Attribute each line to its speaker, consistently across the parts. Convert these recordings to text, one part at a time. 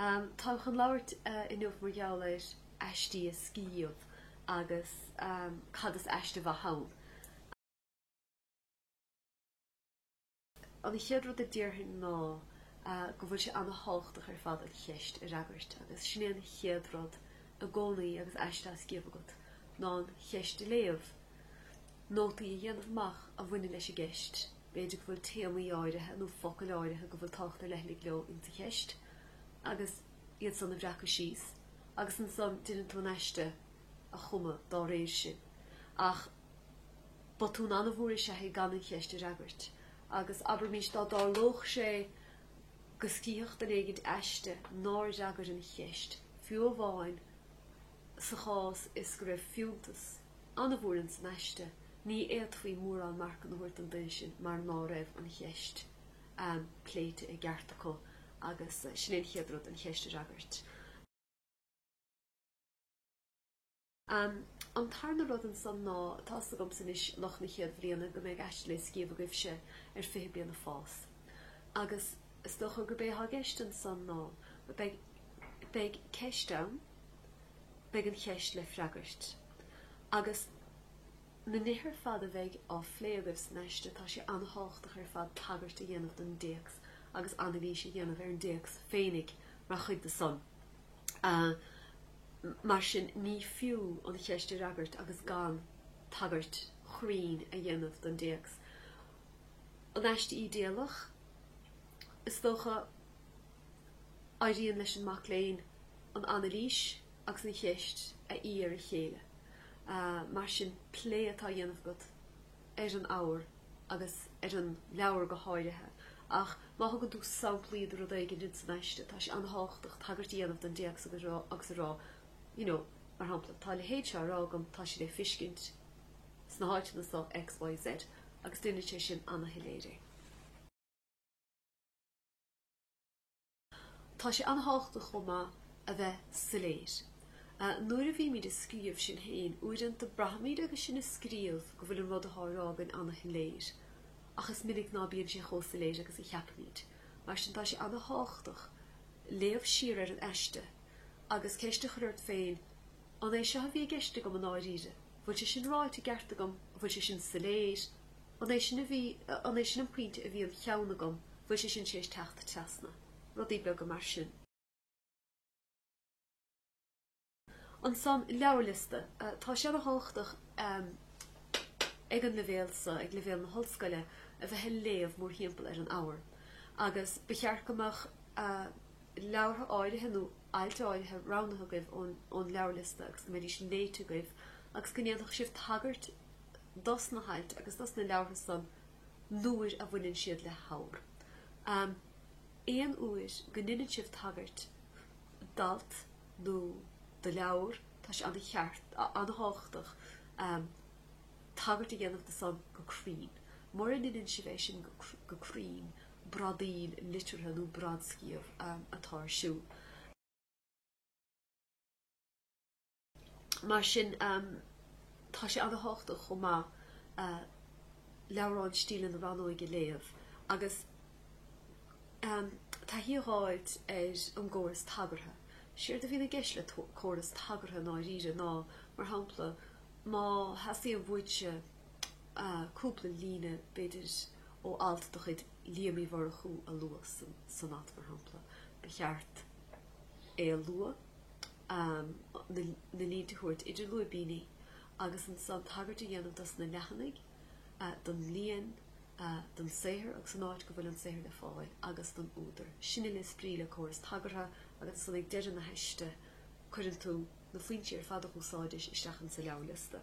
Speaker 1: Táim chun labhairt inniu mar gheall ar aiste a scríobh agus cad is aiste mhaith ann. An chéad rud a déarfainn ná go bhfuil sé ana thábhachtach ar fad an cheist a fhreagairt agus sin é an chéad rud i gcónaí agus aiste á scríobh agat ná an cheist a léamh, nótaí a dhéanamh amach a bhaineann leis an gceist, b'fhéidir go bhfuil téamaí áirithe nó focail áirithe go bhfuil tábhacht ar leithligh leo in sa cheist agus iad san a bhreacadh síos agus ansan déanann tú an aiste a chumadh dá réir sin ach Botún an-mhór is ea í gan an cheist a fhreagairt, agus abraimís dá dtarlódh sé go scríobhfadh duine éigin aiste nár fhreagair an cheist, fiú amháin sa chás is go raibh fiúntas an-mhór ins an aiste, ní fhéadfaí mórán marcanna a thabhairt don duine sin mar ná raibh an cheist pléite i gceart acu agus sin é an chéad rud, an cheist a fhreagairt. An tarna rud ansan ná atá fhios agamsa anois lucht na chéad bhliana go mbeidh aiste le scíobh agaibhse ar Fiche Blian ag Fás. Agus is dócha gurb é atá i gceist ansan ná beidh beidh ceist ann, beidh an cheist le freagairt. Agus na nithe ar fad a bheidh á phlé agaibh san aiste tá sé an-thábhachtach ar fad tagairt a dhéanamh don dtéacs agus anailís a dhéanamh ar an dtéacs féinig mar chuid de san. Mar sin ní fiú an cheist a fhreagairt agus gan tagairt chruinn a dhéanamh don dtéacs. An aiste ídéalach? Is dócha éiríonn leis an mac léinn an anailís agus an cheist a fhí ar a chéile. Mar sin plé atá á dhéanamh agat ar an ábhar agus ar an leabhar go háirithe, ach má thugann tú samplaí de rud éigin ins an aiste, tá sé an-thábhachtach tagairt a dhéanamh don dtéacs agus a rá you know, mar shampla, tá a leithéid seo á rá agam, tá sé le fiscint sna háiteanna so X, Y, Z agus déanann sé sin ana-shoiléir é. Tá sé an-thábhachtach chomh maith a bheith soiléir. Nuair a bhímid ag scríobh, sinn féin, uaireanta braithimid agus sinn ag scríobh go bhfuil an rud atá á rá againn an-shoiléir, ach is minic ná bíonn sé chomh soiléir agus a cheapaimid. Mar sin tá sé an-thábhachtach léamh siar ar an aiste agus ceist a chur ort féin, An é seo a bhí i gceist agam i ndáiríre? An bhfuil sé sin ráite i gceart agam? An bhfuil sé sin soiléir? An é sin a bhí, an é sin an pointe a bhí i gceann agam, bhuel sé sin tar éis teacht trasna. Rudaí beaga mar sin. Ansan leabharliosta, tá sé an-thábhachtach ag an leibhéal so, ag leibhéal na hollscoile, a bheith ag léamh mórthimpeall ar an abhar agus ba cheart go mbeadh leabhartha áirithe nó ailt áirithe roghnaithe agaibh ón leabharliosta agus go mbeidís léite agaibh agus go ndéanfadh sibh tagairt dos na hailt agus dos na leabhartha san nuair a bhaineann siad le habhar. Aon uair go ndeineann sibh tagairt d'alt nó do leabhar tá sé an-cheart, an-tábhachtach tagairt a dhéanamh do san go cruinn. Mura ndeineann sibh é sin go cruinn bradaíl liteartha nó bradscríobh atá ar siúl. Mar sin tá sé an-tábhachtach chomh maith leabhrán stíle na rannóige a léamh agus taithí a fháilt ar an gcóras tagartha. Séard a bhíonn i gceist le córas tagartha i ndáiríre ná, mar shampla, má theastaíonn uait cúpla líne, b'fhéidir, ó alt de chuid Liam Uí Mhurchú a lua san aiste, mar shampla, ba cheart é a lua. am na línte a thabhairt idir lúibíní agus ansan tagairt a dhéanamh dos na leathanaigh, don líon, don saothar agus an áit go bhfuil an saothar le fáil agus don údar. Sin é is brí le córas tagartha agus ansan ag deireadh na haiste cuireann tú na foinsí ar fad a úsáidis isteach insa leabharliosta.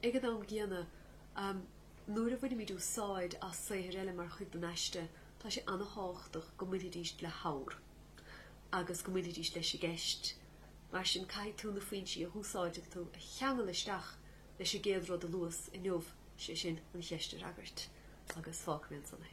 Speaker 1: Ag an am gcéanna, nuair a bhainimid úsáid as saothair eile mar chuid den aiste, tá sé an-tábhachtach go mbainfidís le habhar agus go mbainfidís leis an gceist. Mar sin, caithfidh tú na foinsí a úsáideann tú a cheangal isteach leis an gcéad rud a luas inniu, sé sin, an cheist a fhreagairt. Agus fágfaidh mé ansan é.